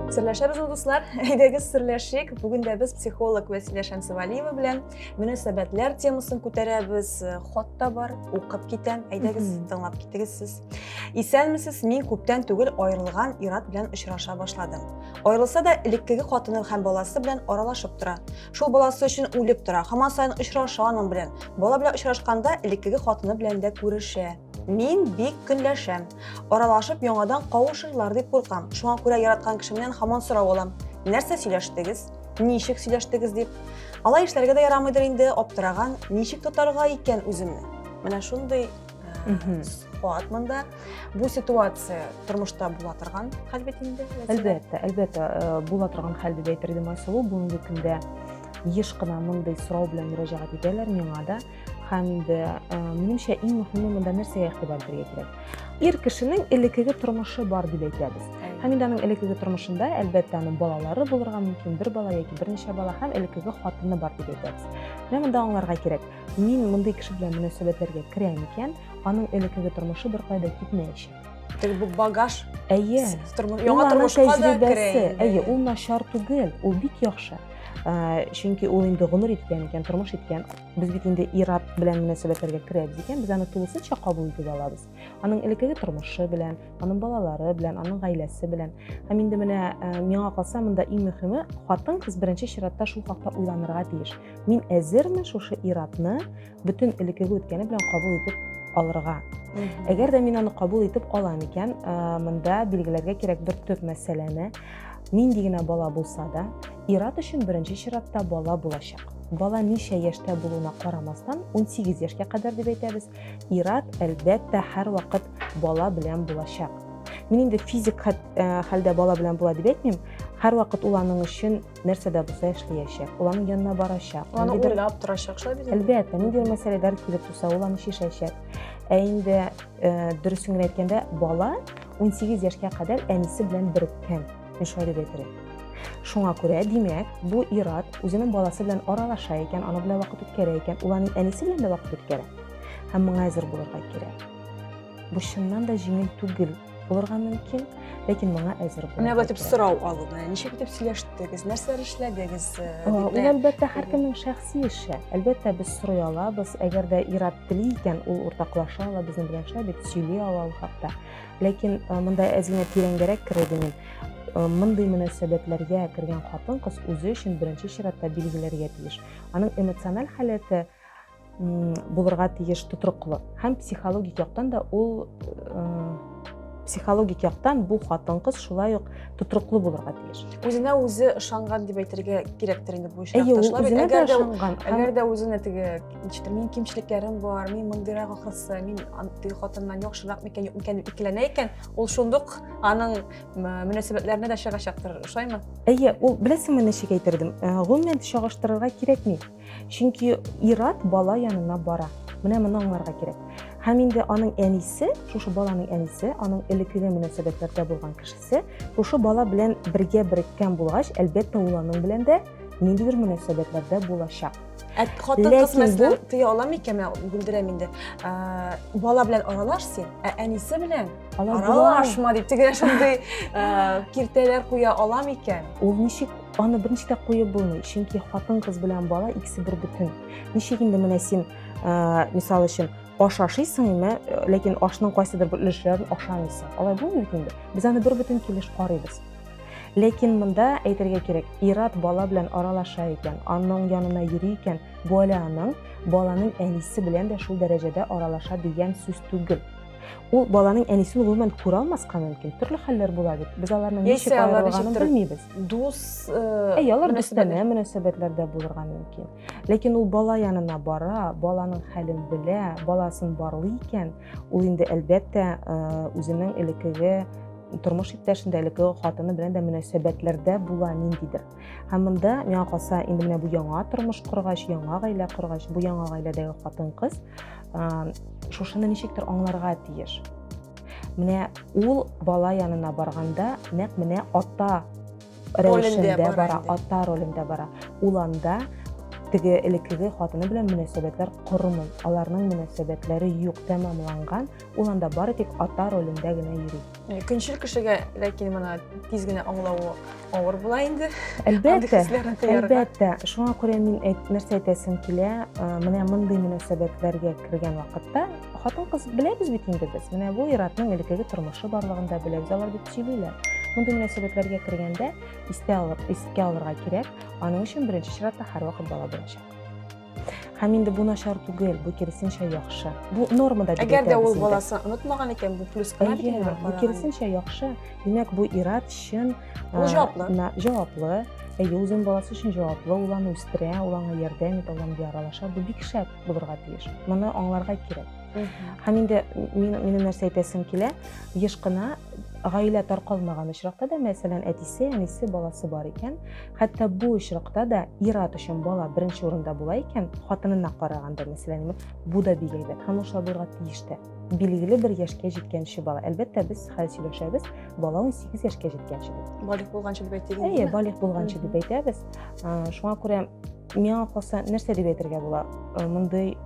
Серләшәбезме, дуслар? Әйдәгез серләшик. Бүген дә без психолог Вәсилә Шәмсевалиева белән мөнәсәбәтләр темасын күтәрәбез. Хат та бар, укып китәм. Әйдәгез, тыңлап китегез сез. Исәнмесез, мин күптән түгел аерылган ират белән очраша башладым. Аерылса да, элеккеге хатыны һәм баласы белән аралашып тора. Шул баласы өчен үлеп тора, һаман сайын очраша аның белән. Бала белән очрашканда элеккеге хатыны белән дә күрешә. Мин бик көнләшәм. Аралашып яңадан кавышырлар дип куркам. Шуңа күрә яраткан кешемнән һаман сорау алам. Нәрсә сөйләштегез? Ничек сөйләштегез дип. Алай эшләргә дә ярамыйдыр инде, аптыраган, ничек тотарга икән үземне? Менә шундый куат монда. Бу ситуация тормышта була торган хәл бит инде. Әлбәттә, әлбәттә э, була торган хәл дип әйтер идем Айсылу. Бүгенге көндә еш кына мондый сорау белән мөрәҗәгать итәләр миңа да. Һәм инде э, минемчә иң мөһиме монда нәрсәгә игътибар итәргә кирәк? Ир кешенең элеккеге тормышы бар дип әйтәбез. Һәм инде аның элеккеге тормышында, әлбәттә, аның балалары булырга мөмкин, бер бала яки берничә бала һәм элеккеге хатыны бар дип әйтәбез. Менә монда аңларга кирәк. Мин мондый кеше белән мөнәсәбәтләргә керә микән? Аның элеккеге тормышы беркая да китмәячәк. Теге бу багаж. Әйе. Яңа тормышка да керә. Әйе, ул начар түгел, ул бик яхшы. Э, чөнки ул инде гомер иткән икән тормыш иткән без бит инде ират белән мөнәсәбәтләргә керәбез икән без аны тулысынча кабул итеп алабыз аның элеккеге тормышы белән аның балалары белән аның гаиләсе белән һәм инде менә э, миңа калса монда иң мөһиме хатын кыз беренче чиратта шул хакта уйланырга тиеш Мин әзерме шушы иратны бөтен элекеге үткәне белән кабул итеп алырга? Әгәр дә мин аны кабул итеп алам икән, монда билгеләргә кирәк бер төп мәсьәләне. Нинди генә бала булса да, ират өчен беренче чиратта бала булачак. Бала ничә яшьтә булуына карамастан, 18 яшькә кадәр дип әйтәбез, ират әлбәттә һәрвакыт бала белән булачак. Мин инде физик хәлдә бала белән була дип әйтмим, һәрвакыт ул аның өчен нәрсә дә булса эшләячәк, ул аның янына барачак. Ул аны уйлап торачак, шулай бит? Әлбәттә, ниндидер мәсьәләләр килеп туса, ул аны чишәчәк. Ә инде э, дөресен генә әйткәндә, бала 18 яшькә кадәр әнисе белән береккән. Мин шулай дип әйтер Шуңа күрә, димәк, бу ир-ат үзенең баласы белән аралаша икән, аны белән вакыт үткәрә икән, ул аның әнисе белән дә вакыт үткәрә. Һәм моңа әзер булырга кирәк. Бу чыннан да җиңел түгел. булырга мөмкин, ләкин моңа әзер булырга. Менә бәтеп сорау алу, менә ничек итеп сөйләштегез, нәрсәләр эшләдегез? Э, ул әлбәттә һәркемнең шәхси эше. Әлбәттә без сорый алабыз, әгәр дә ират тели икән, ул уртаклаша ала безнең белән шулай дип сөйли ала ул хакта. Ләкин э, монда әзинә тирәнгәрәк керә идем э, мондый мөнәсәбәтләргә кергән хатын-кыз үзе өчен беренче чиратта билгеләргә тиеш. Аның эмоциональ халәте булырга тиеш тотрыклы һәм психологик яктан да ул психологик яктан бу хатын кыз шулай ук тотрыклы булырга тиеш үзенә үзе ышанган дип әйтергә кирәктер инде бу очракташлар әйе әгәр дә әгәр дә үзенә теге ничектер минем кимчелекләрем бар мин мондыйрак ахрысы мин теге хатыннан яхшырак микән юк микән дип икеләнә икән ул шундук аның мөнәсәбәтләренә дә чыгачактыр ошаймы әйе ул беләсеңме ничек әйтердем гомумән чагыштырырга кирәкми Чөнки ир-ат бала янына бара. Менә моны аңларга кирәк. Һәм инде аның әнисе, шушы баланың әнисе, аның элеккеге мөнәсәбәтләрдә булган кешесе, шушы бала белән бергә береккән булгач, әлбәттә, ул аның белән дә ниндидер мөнәсәбәтләрдә булачак. Ә хатын кыз мәсәлән тыя ала микән? Мин бүлдерәм инде. Бала белән аралаш син, ә әнисе белән аралашма дип тегеләр шундый киртәләр куя ала микән? Ул ничек Аны беренче дә куеп булмый, чөнки хатын-кыз белән бала икесе бер бөтен. Ничек инде менә син, э, мисал өчен, аш ашыйсың, әмма э, ләкин ашның кайсыдыр бер өлешләрен ашамыйсың. Алай булмый инде. Без аны бер бөтен килеш карыйбыз. Ләкин монда әйтергә кирәк, ират бала белән аралаша икән, аның янына йөри икән, бу әле аның баланың әнисе белән дә шул дәрәҗәдә аралаша дигән сүз түгел. Ул баланың әнисен гомумән күрә алмаска мөмкин. Төрле хәлләр була бит. Без аларның ничек аерылганын белмибез. Дус, э, әй, алар дустанә мөнәсәбәтләрдә булырга мөмкин. Ләкин ул бала янына бара, баланың хәлен белә, баласын барлый икән, ул инде әлбәттә э, үзенең элекеге тормыш иптәшендә, элекеге хатыны белән дә мөнәсәбәтләрдә була ниндидер. Һәм монда миңа калса, инде менә бу яңа тормыш коргач, яңа гаилә коргач, бу яңа гаиләдәге хатын-кыз шушыны ничектер аңларга тиеш. Менә ул бала янына барганда, нәкъ менә ата рәвешендә бара, ата ролендә бара. Ул анда теге элеккеге хатыны белән мөнәсәбәтләр кормый. Аларның мөнәсәбәтләре юк, тәмамланган. Ул анда бары тик ата ролендә генә йөри. Э, көнчел кешегә ләкин моны тиз генә аңлавы авыр була инде әлбәттә әлбәттә шуңа күрә мин әйт, нәрсә әйтәсем килә э, менә мондый мөнәсәбәтләргә кергән вакытта хатын кыз беләбез бит инде без менә бу иратның элеккеге тормышы барлыгын да беләбез алар бит сөйлиләр мондый мөнәсәбәтләргә кергәндә истә алып искә алырга кирәк аның өчен беренче чиратта һәрвакыт бала беренче Һәм инде бу начар түгел, бу киресенчә яхшы. Бу нормада дип Әгәр дә ул баласын онытмаган икән, бу плюс кына бит инде. Бу киресенчә яхшы. Димәк, бу ират чын ул җаваплы. Җаваплы. Әйе, үзен баласы өчен җаваплы, ул аны үстерә, ул аңа ярдәм итә, ул аңа яралаша. Бу бик шәп булырга тиеш. Моны аңларга кирәк. Һәм инде минем нәрсә әйтәсем килә, еш кына гаилә таркалмаган очракта да, мәсәлән, әтисе, әнисе, баласы бар икән, хәтта бу очракта да ир-ат өчен бала беренче урында була икән, хатынына караганда, мәсәлән, бу да бик әйбәт һәм ошау булырга тиеш тә. Билгеле бер яшькә җиткәнче бала. Әлбәттә, без хәзер сөйләшәбез, бала 18 яшькә җиткәнче дип. Балигъ булганчы дип әйтик. Әйе, балигъ булганчы дип әйтәбез. Шуңа күрә миңа калса, нәрсә дип әйтергә була? Мондый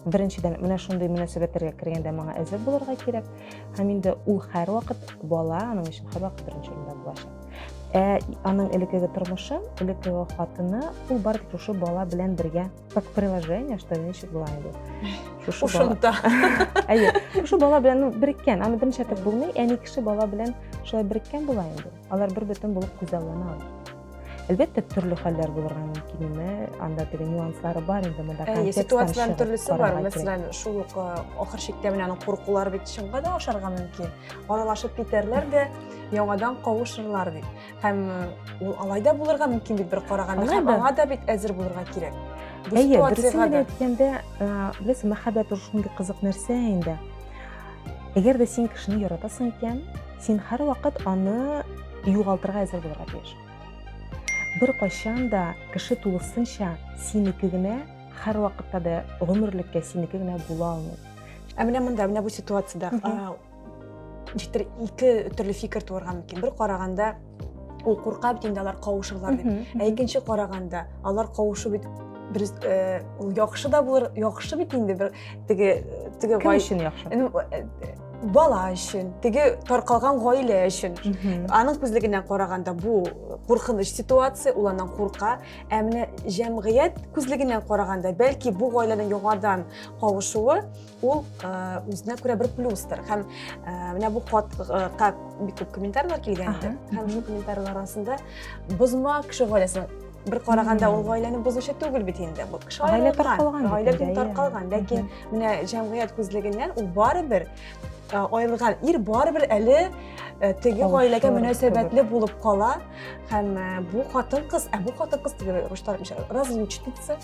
беренчедән менә шундый мөнәсәбәтләргә кергәндә моңа әзер булырга кирәк һәм инде ул һәрвакыт бала аның өчен һәрвакыт беренче урында булачак Ә аның элеккеге тормышы, элеккеге хатыны, ул бары тик шушы бала белән бергә, как приложение, что значит была его. Шушы Ушунта. Әйе, шушы бала белән ну, береккән, аны берничә тәп булмый, әни кеше бала белән шулай береккән була инде. Алар бер бөтен булып күзаллана алар. Әлбәттә, төрле хәлләр булырга мөмкин име, анда теге нюанслары бар инде монда контекст. Әйе, ситуацияләр төрлесе бар. Мәсәлән, шул ук ахыр чиктә менә аның куркулары бит чынга да ашарга мөмкин. аралашып китәрләр дә яңадан кавышырлар бит һәм ул алай да булырга мөмкин бит бер караганда һәм аңа да бит әзер булырга кирәк әйе дөресен генә әйткәндә беләсең мәхәббәт ул шундый кызык нәрсә инде әгәр дә син кешене яратасың икән син һәрвакыт аны югалтырга әзер булырга тиеш бер кайчан да кеше тулысынча синеке генә һәрвакытта да гомерлеккә синеке генә була алмый ә менә монда менә бу ситуациядә ничектер ике төрле фикер туарга мөмкин бер караганда ул курка бит инде алар кавышырлар дип ә икенче караганда алар кавышу бит бер э, ул яхшы да булыр яхшы бит инде бер теге теге кем өчен яхшы э, бала өчен теге таркалган гаилә өчен аның күзлегеннән караганда бу куркыныч ситуация ул аннан курка ә менә җәмгыять күзлегеннән караганда бәлки бу гаиләнең яңадан кавышуы ул үзенә күрә бер плюстыр һәм менә бу хатка бик күп комментарийлар килгән иде һәм шул комментарийлар арасында бозма кеше гаиләсен бер караганда ул гаиләне бозучы түгел бит инде бу кеше гаилә таркалган гаилә бит таркалган ләкин менә җәмгыять күзлегеннән ул барыбер аерылган ир барыбер әле теге гаиләгә мөнәсәбәтле булып кала һәм бу хатын кыз ә бу хатын кыз дип русча разлучница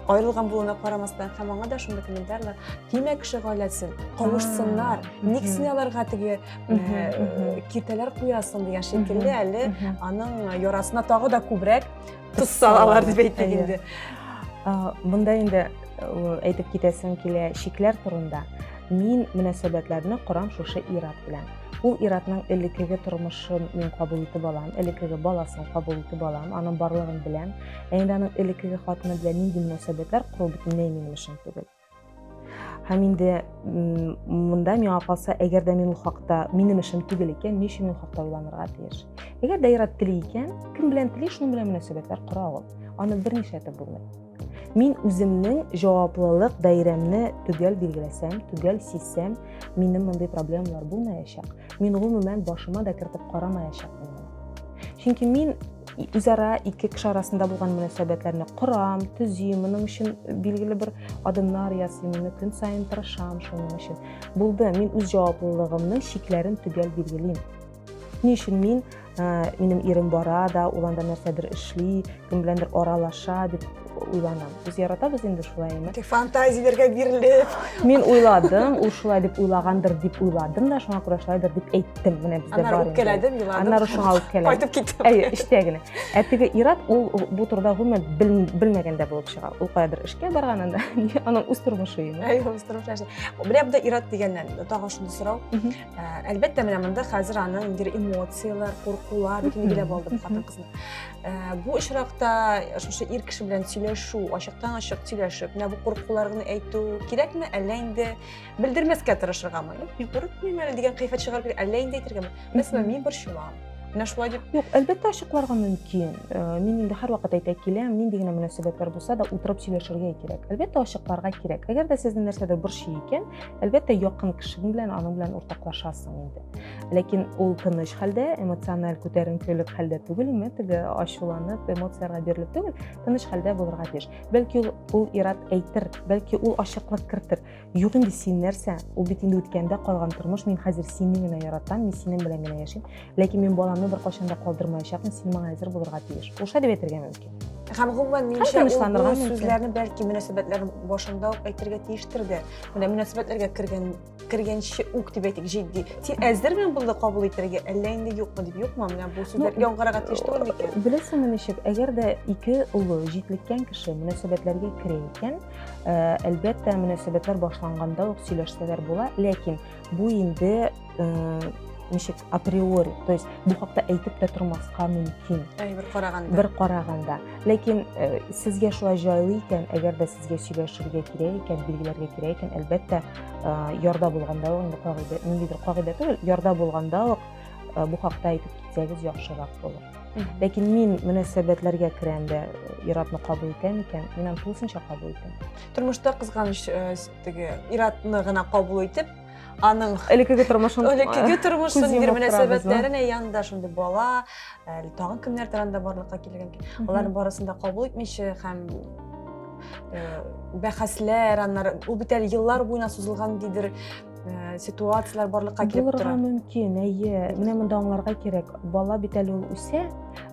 Аерылган булуына карамастан һәм аңа да шундый комментарийлар тимә кеше гаиләсен кавышсыннар ник син аларга теге киртәләр куясың дигән шикелле әле аның ярасына тагы да күбрәк тоз салалар дип әйтик инде монда инде әйтеп китәсем килә шикләр турында мин мөнәсәбәтләрне корам шушы ират белән ул иратның элеккеге тормышын мин кабул итеп алам элеккеге баласын кабул итеп алам аның барлыгын беләм Ә инде аның элеккеге хатыны белән нинди мөнәсәбәтләр кору бөтенләй минем эшем түгел. Һәм инде монда миңа калса, әгәр дә мин ул хакта минем эшем түгел икән, ни өчен ул хакта уйланырга тиеш? Әгәр дә ир-ат тели икән, кем белән тели, шуның белән мөнәсәбәтләр кора ул. Аны берничә итеп булмый. Мин үземнең җаваплылык даирәмне төгәл билгеләсәм, төгәл сизсәм, минем мондый проблемалар булмаячак. Мин гомумән башыма да кертеп карамаячакмын. Чөнки мин үзара ике кеше арасында булган мөнәсәбәтләрне корам, төзим, моның өчен билгеле бер адымнар ясыйм, моны көн саен тырышам шуның өчен. Булды, мин үз җаваплылыгымның чикләрен төгәл билгелим. Ни өчен мин, ә, минем ирем бара да, ул анда нәрсәдер эшли, кем беләндер аралаша дип уйланам без яратабыз инде шулаймы фантазияләргә бирелеп мин уйладым ул шулай дип уйлагандыр дип уйладым да шуңа күрә шулайдыр дип әйттем менә бездә бар аннары үпкәләдем еладым аннары шуңа үпкәләдем кайтып киттем әйе эчтә генә ә теге ират ул бу турыда гомумән белмәгәндә булып чыга ул каядыр эшкә барган анда аның үз тормышы инде әйе үз тормышы менә монда ират дигәннән тагын шундый сорау Әлбәттә, менә монда хәзер аның бер эмоцияләр, куркулар, бөтен генә булды бу хатын кызның. Бу очракта шушы ир кеше белән сөйләшү, ачыктан ачык сөйләшеп, менә бу куркуларны әйтү кирәкме, әллә инде белдермәскә тырышыргамы? Мин курыкмыйм әле дигән кыйфәт чыгарып, әллә инде әйтергәме? Мәсәлән, мин борчылам. Менә шулай дип. Юк, әлбәттә ачыкларга мөмкин. Мин инде һәрвакыт әйтә киләм, нинди генә мөнәсәбәтләр булса да, утырып сөйләшергә кирәк. Әлбәттә ачыкларга кирәк. Әгәр дә сезне нәрсәдер борчый икән, Әлбәттә, якын кешең белән аның белән уртаклашасың инде. Ләкин ул тыныч хәлдә, эмоциональ күтәренкелек хәлдә түгел, ме теге ачуланып, эмоцияләргә бирелеп түгел, тыныч хәлдә булырга тиеш. Бәлки ул, ул ират әйтер, бәлки ул ачыклык кертер. Юк инде син нәрсә? Ул бит инде үткәндә калган тормыш, мин хәзер сине генә яратам, мин синең белән генә яшим. ләкин мин баламны беркайчан да калдырмаячакмын син моңа әзер булырга тиеш ул шулай дип әйтергә мөмкин һәм гомумән минемчә ул сүзләрне бәлки мөнәсәбәтләр башында ук әйтергә тиештер дә менә мөнәсәбәтләргә кергән кергәнче үк дип әйтик җитди син әзерме моны кабул итәргә әллә инде юкмы дип юкмы менә бу сүзләр ну, яңгырарга тиеш түгел микән беләсеңме ничек әгәр дә ике улы җитлеккән кеше мөнәсәбәтләргә керә икән э, әлбәттә мөнәсәбәтләр башланганда ук сөйләшсәләр була ләкин Бу инде ничек априори то есть бу хакта әйтеп тә тормаска мөмкин бер караганда бер караганда ләкин э, сезгә шулай җайлы икән әгәр дә сезгә сөйләшергә кирәк икән билгеләргә кирәк икән әлбәттә э, ярда булганда ук инде кагыйдә ниндидер кагыйдә түгел ярда булганда ук э, бу хакта әйтеп китсәгез яхшырак булыр ләкин мин мөнәсәбәтләргә керәм дә ир-атны кабул итәм икән мин аны тулысынча кабул итәм тормышта кызганыч теге иратны гына кабул итеп аның элекеге тормышын элекеге тормышын ир мөнәсәбәтләрен янында шундый бала әле тагын кемнәр турында барлыкка килгән аларның барысын да кабул итмичә һәм бәхәсләр аннары ул бит әле еллар буена сузылган дидер ситуацияләр барлыкка килеп тора булырга мөмкин әйе менә монда аңларга кирәк бала бит әле ул үсә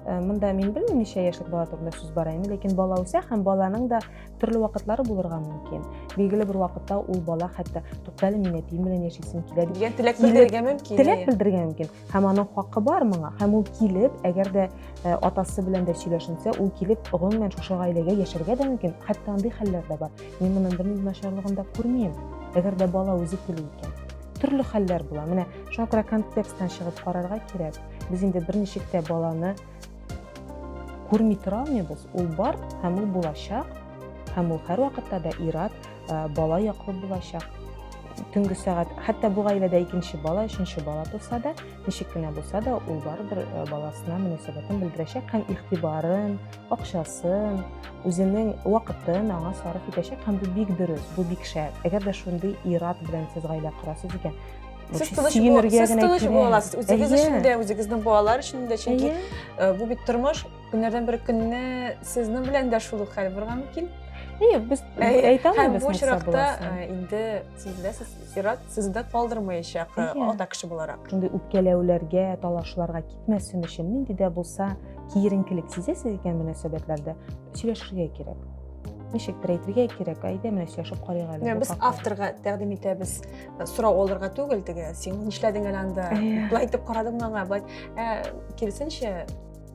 монда мин белмим ничә яшьлек бала турында сүз бара инде ләкин бала үсә һәм баланың да Төрле вакытлары булырга мөмкин. Билгеле бер вакытта ул бала хәтта туктале мин әтием белән яшисем килә дип дигән теләк белдерергә мөмкин. Теләк белдерергә мөмкин. Һәм аның хакы бар моңа. Һәм ул килеп, әгәр дә э, атасы белән дә сөйләшенсә, ул килеп гомумән шушы гаиләгә яшәргә дә мөмкин. Хәтта андый хәлләр дә бар. Мин моның бернинди начарлыгын да күрмим. Әгәр дә бала үзе тели икән. Төрле хәлләр була. Менә шуңа күрә контексттан чыгып карарга кирәк. Без инде берничек тә баланы Күрми тора алмыйбыз, ул бар һәм ул булачак, һәм ул һәрвакытта да ир-ат, э, бала яклы булачак. Төнге сәгать, хәтта бу гаиләдә икенче бала, өченче бала туса да, ничек кенә булса да, ул барыбер э, баласына мөнәсәбәтен белдерәчәк һәм игътибарын, акчасын, үзенең вакытын аңа сарыф итәчәк һәм бу бик дөрес, бу бик шәп. Әгәр дә шундый ир-ат белән сез гаилә корасыз икән, Сез тыныш буласыз, үзегез өчен дә, үзегезнең балалар өчен дә, чөнки бу бит тормыш, көннәрдән бер көнне сезнең белән дә шул ук хәл булырга мөмкин. Әйе, без әйтәм без бу чиракта инде сез беләсез, Ират сезне дә калдырмаячак ата кеше буларак. Инде үпкәләүләргә, талашларга китмәсен өчен нинди дә булса киеренкелек сизәсез икән мөнәсәбәтләрдә сөйләшергә кирәк ничектер әйтергә кирәк әйдә менә сөйләшеп карыйк әле без авторга тәкъдим итәбез сорау алырга түгел теге син нишләдең әле анда былай итеп карадыңмы аңа былай ә киресенчә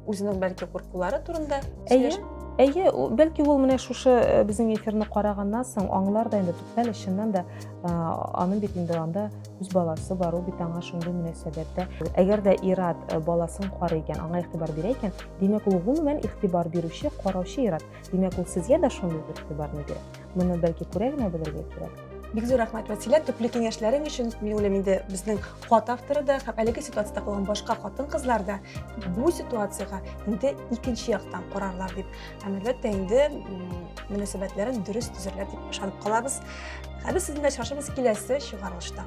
үзенең бәлки куркулары турында әйе әйе бәлки ул менә шушы э, безнең эфирны караганнан соң аңлар да инде туктале чыннан да э, аның бит инде анда үз баласы бар ул бит аңа шундый мөнәсәбәттә әгәр дә ират э, баласын карый икән аңа игътибар бирә икән димәк ул гомумән игътибар бирүче караучы ират Димәк, ул сезгә дә шундый бер игътибарны бирә. Моны бәлки күрә генә белергә кирәк. Бик зур рәхмәт, Вәсилә, төпле киңәшләрең өчен. Мин уйлыйм инде безнең хат авторы да һәм әлеге ситуациядә калган башка хатын-кызлар да бу ситуациягә инде икенче яктан карарлар дип. Һәм әлбәттә инде м, мөнәсәбәтләрен дөрес төзерләр дип ышанып калабыз. Ә без сезне очрашабыз киләсе чыгарылышта.